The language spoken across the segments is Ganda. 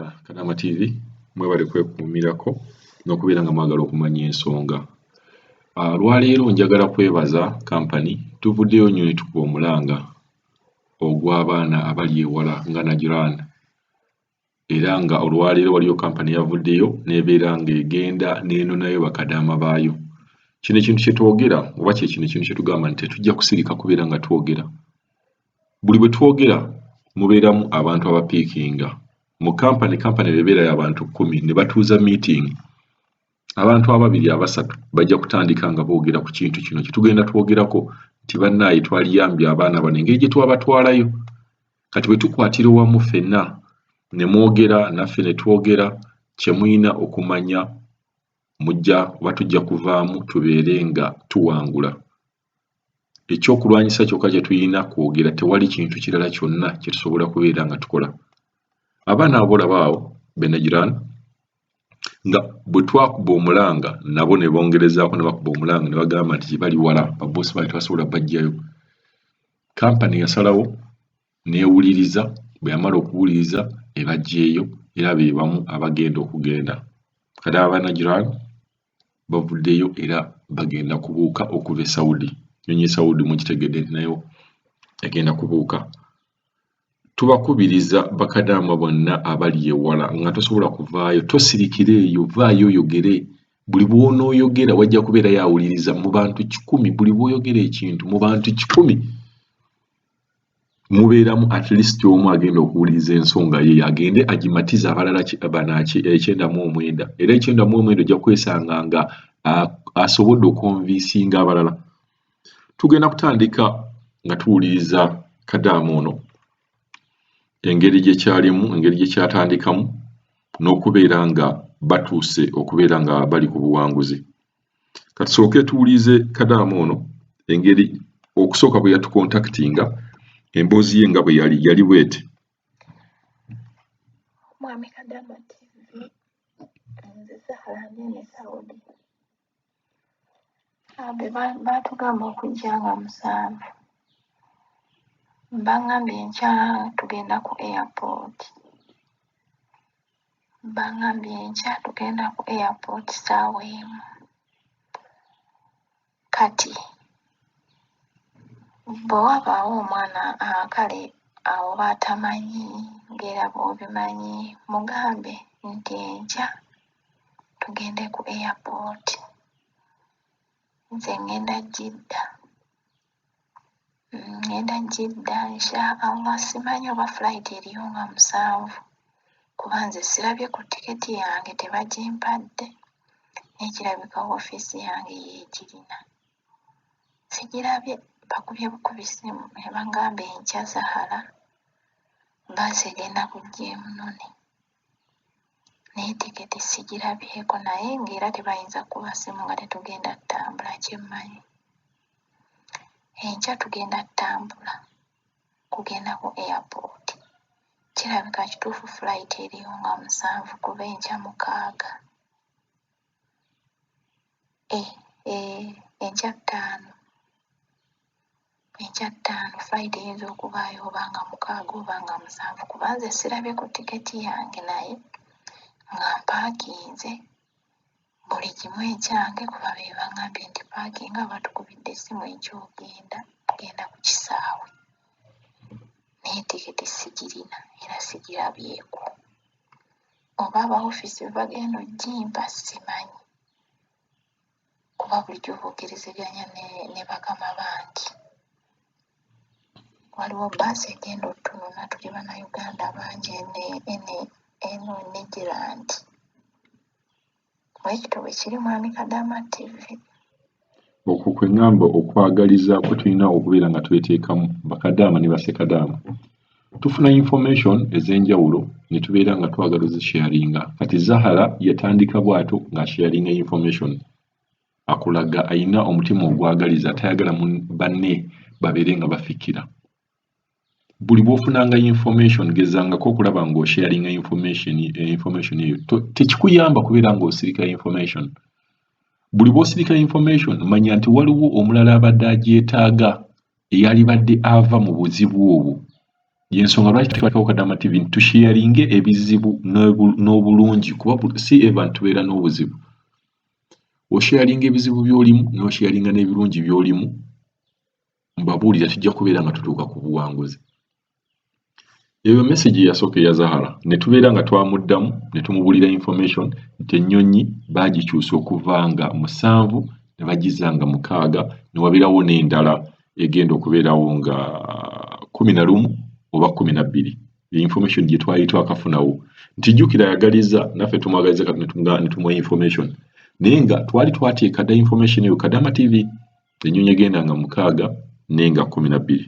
ah, kanaama tv mwebale kwekuumirako n'okubeera nga mwagala okumanya ensonga ah, lwaleero njagala kwebaza kampani tuvuddeyo nnyo ne tukuba omulanga ogw'abaana abali ewala nga najiran era nga olwaleero waliyo kampani yavuddeyo nebeera nga egenda nenonayo bakadaama baayo kino ekintu kyetwogera oba kyekino ekintu kyetugamba nti tetujja kusirika kubeera nga twogera buli bwe twogera mubeeramu abantu abapiikinga mu kampani kampani ebeerayo abantu kkumi ne batuuza miitingi abantu ababiri abasatu bajja kutandika nga boogera ku kintu kino kye tugenda twogerako nti bannaayi twaliyambye abaana bano engeri gye twabatwalayo kati bwe tukwatira owamu ffenna ne mwogera naffe ne twogera kye mulina okumanya mujja oba tujja kuvaamu tubeere nga tuwangula Ekyokulwanyisa kyokka kye tulina kwogera, tewali kintu kirala kyonna kye tusobola kubeera nga tukola. Abaana abo b'olaba awo, Benajirani, nga bwe twakuba omulanga nabo ne bongerezaako ne bakuba omulanga ne bagamba nti gye bali wala, babboosi baabwe tebasobola baggyayo. Kampani yasalawo n'ewuliriza, bwe yamala okuwuliriza ne baggyeyo era be bamu abagenda okugenda. Kati Abanajirani, bavuddeyo era bagenda kubuuka okuva e Saudi nyonyi e Saudi mugitegedde nti nayo egenda kubuuka tubakubiriza bakadaama bonna abali ewala nga tosobola kuvaayo tosirikira eyo vaayo oyogere buli bwonooyogera wajja kubeera yawuliriza mu bantu kikumi buli bwoyogera ekintu mu bantu kikumi mubeeramu at least omu agenda okuwuliriza ensonga ye agende agimatize abalala banaki ekyenda mu omwenda era ekyenda mu omwenda ojja kwesanga nga asobodde okonvisinga abalala tugenda kutandika nga tuwuliriza kadaama ono engeri gyekyalimu engeri gyekyatandikamu n'okubeera nga batuuse okubeera nga bali ku buwanguzi kati sooke tuwulize kadaama ono engeri okusooka bwe yatukontakitinga emboozi ye nga bwe yali yali bweti mwami kadaama tv nze zahara nene saudi abe baatugamba okujja nga musanvu bangambye nkya tugenda ku airport Bangambye enkya tugenda ku airport saawa emu kati bwe wabaawo omwana ah, kale awo baatamanyi ng'era bw'obimanyi mugambe nti enkya tugende ku airport nze ngenda jidda. ngenda mm, jidda insha allah simanyi oba flight eriyo nga musanvu kuba nze sirabye ku tiketi yange tebagimpadde naye kirabika ofiisi yange yeegirina sigirabye bakubye bukubi ssimu ne bangamba enkya zahala bbaasi egenda kujja emunone naye tiketi sigirabyeko naye ng'era tebayinza kuba simu nga tetugenda ttambula kyemmanyi enkya tugenda ttambula kugenda ku airport kirabika kituufu flight eriyo nga musanvu kuba enkya mukaaga. eh, eh, enkya ttaano enkya ttaano flight eyinza okubaayo oba nga mukaaga oba nga musanvu kuba nze sirabye ku tiketi yange naye nga mpaakinze buli kimu ekyange kuba be bangambye nti paakinga batukubidde essimu ekyogenda genda ku kisaawe naye tiketi sigirina era sigirabyeko oba aba ofiisi be bagenda ojjimpa simanyi kuba bulijjo boogerezeganya ne, ne bakama bangi waliwo baasi egenda otununa tuli bannayuganda bangi eno e negerandi Bwekityo bwekiri mwami Kadaama TV. Okwo kwe ngamba okwagaliza kwe tulina okubeera nga tweteekamu bakadaama ne basekadaama. Tufuna information ez'enjawulo ne tubeera nga twagala ozisharinga. Kati Zahara yatandika bw'ato ng'asharinga information akulaga alina omutima ogwagaliza tayagala banne babeere nga bafikira. buli bwofunanga information gezangako okulaba nga osharinga information eh, information eyo tekikuyamba kubeera nga osirika information buli bwosirika information manya nti waliwo omulala abadde agyetaaga eyalibadde ava mu buzibu obwo yensonga lwaki tukwatako kadama tv nti tusharinge ebizibu n'obulungi kuba si eva ntubeera n'obuzibu osharinga ebizibu byolimu nosharinga n'ebirungi byolimu mbabuulira tujja kubeera nga tutuuka ku buwanguzi eyo message yasooka eya zahara ne tubeera nga twamuddamu ne tumubulira information nti ennyonyi baagikyusa okuva nga musanvu ne bagizza nga mukaaga ne wabeerawo n'endala egenda okubeerawo nga kumi na lumu oba kumi na bbiri information gye twali twakafunawo nti jjukira ayagaliza naffe tumwagaliza kati ne tumuwa information naye nga twali twateeka dda information eyo kadama tv ennyonyi egenda nga mukaaga naye nga kkumi na bbiri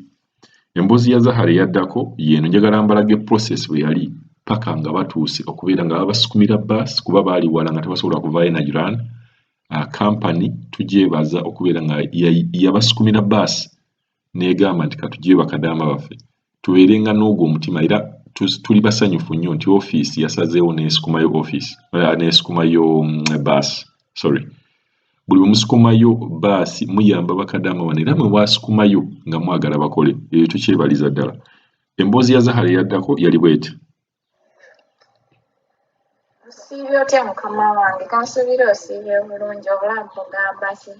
emboozi ya zahara eyaddako yeeno njagala mbalage process bwe yali paka nga batuuse okubeera nga babasukumira baasi kuba baali wala nga tebasobola kuvaayo na iran ah, kampani tugyebaza okubeera nga yabasukumira baasi negamba nti katugye bakadaama baffe tubeerenga n'ogwo omutima era tuli basanyufu nnyo nti ofiisi yasazeewo n'esikumayo ofiisi eh, n'esikumayo mm, baasi sorry buli bwe musikumayo baasi muyamba bakadaama bano era mwe wasikumayo nga mwagala bakole ebyo tukyebaliza ddala emboozi ya zahara eyaddako yali bweti osiibye otya mukama wange kansuubira osiibye bulungi obulamu bugamba ki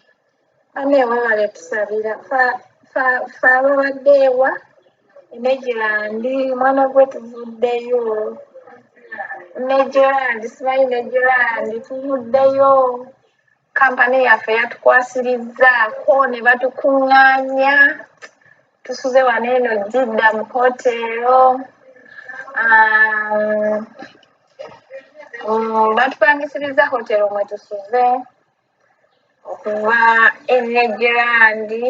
bane webale tusabira fe ababadde ewa enegirandi mwana gwe tuvuddeyo negirandi simanyi negirandi tuvuddeyo kampani yaffe yatukwasirizzaako ne batukuŋŋaanya tusuze wano eno jidda mu hoteero um, um, batupangisiriza hoteero mwe tusuze okuva enegirandi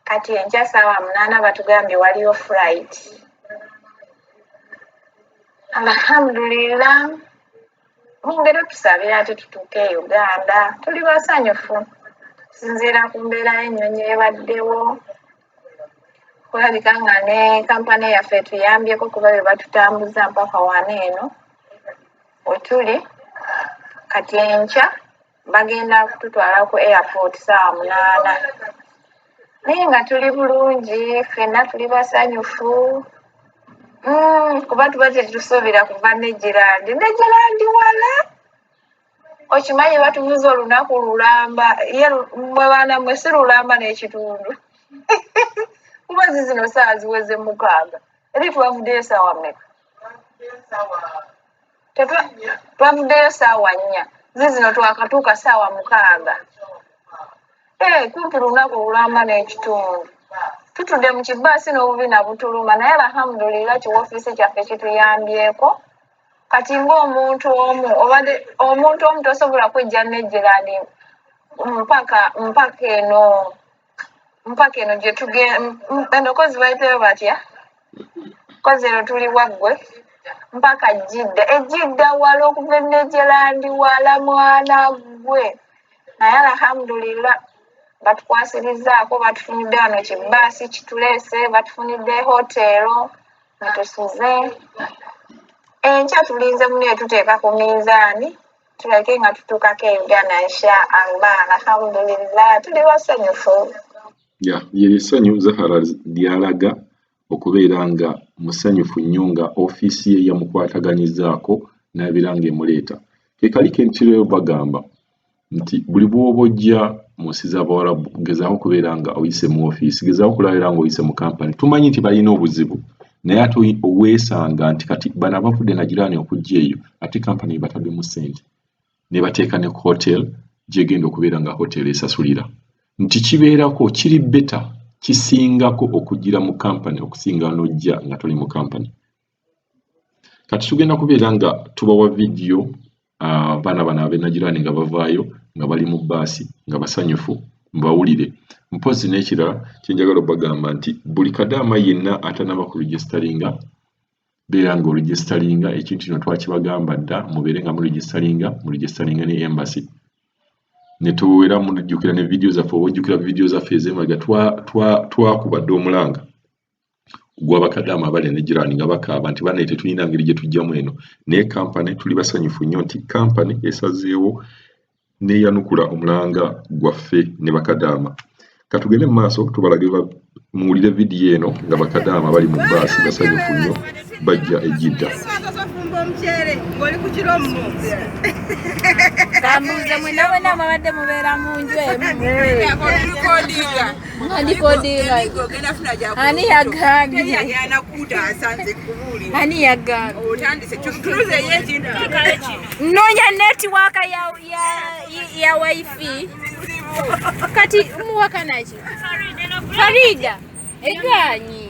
kati enkya saawa munaana batugambye waliyo fright alhamdulillah mungeri otusabira ati tutuuke e uganda tuli basanyufu okusinziira ku mbeera y'ennyonyi ebaddewo kulabika nga ne kampani yaffe etuyambyeko kuba be batutambuza mpaka wana eno wetuli kati enkya bagenda kututwala ku airport saawa munaana naye nga tuli bulungi fenna tuli basanyufu mm, kuba tuba tetusuubira kuva negirandi negirandi wala okimanyi batubuza olunaku lulamba ye mwe baana mwe si lulamba n'ekitundu kuba zizino saawa ziweze mukaaga eri twavuddeyo saawa meka twavuddeyo saawa nnya zizino twakatuuka saawa mukaaga eh, kumpi lunaku olulamba n'ekitundu tutudde mu kibaasi n'obubina butuluma naye alhamdulillah kiwofiisi kyaffe kituyambyeko kati ng'omuntu omu obadde omuntu omu tosobola kwejja nejjerani mpaka mpaka eno mpaka eno gye tugenda kozi bayitayo batya kozi eno tuli waggwe mpaka jidda ejidda wala okuva enejerandi wala mwana gwe naye alhamdulillah batukwasirizaako batufunidde wano kibaasi kituleese batufunidde hotero mutusuze enkya tulinze mune tuteeka ku minzaani tulage nga tutuukako e uganda nsha allah alhamdulillah tuli basanyufu ya yeri essanyu zahara lyalaga okubeera nga musanyufu nnyo nga ofiisi ye yamukwataganyizaako n'abeera ng'emuleeta ke kali kentiro bagamba nti buli bw'oba ojja mu nsi z'abawarabu gezaako okubeera nga oyise mu ofiisi gezaako okulabira nga oyise mu kampani tumanyi nti balina obuzibu naye ate weesanga nti kati bano abavudde nagiraani okujja eyo ate kampani ebataddemu ssente ne bateeka ne hotel gyegenda okubeera nga hotel esasulira nti kibeerako kiri beta kisingako okugira mu kampani okusinga n'ojja nga toli mu kampani kati tugenda kubeera nga tubawa vidiyo abaana bano abenagirani nga bavaayo nga bali mu baasi nga basanyufu mbawulire mpozi n'ekirala kyenjagala obagamba nti buli kadaama yenna atanaba ku regisitaringa beera nga oregisitaringa ekintu kino twakibagamba dda mubeere nga muregisitaringa muregisitaringa ne embassy netuwera mujjukira ne vidiyo zaffe oba ojjukira vidiyo zaffe ezemaga twakuba dda omulanga gwa bakadaama abali ne jirani nga bakaaba nti banaye tetulina ngeri gye tujjamu eno naye kampani tuli basanyufu nnyo nti kampani esazeewo neyanukula omulanga gwaffe ne bakadaama katugende mu maaso tubalage muwulire vidiyo eno nga bakadaama bali mu baasi basanyufu nnyo bajja ejidda kambuuze mwena mwena mwabadde mubeera mu nju emu ani yagambye ani yagambye nonya netiwaka ya wifi kati muwakanaki farida eganyi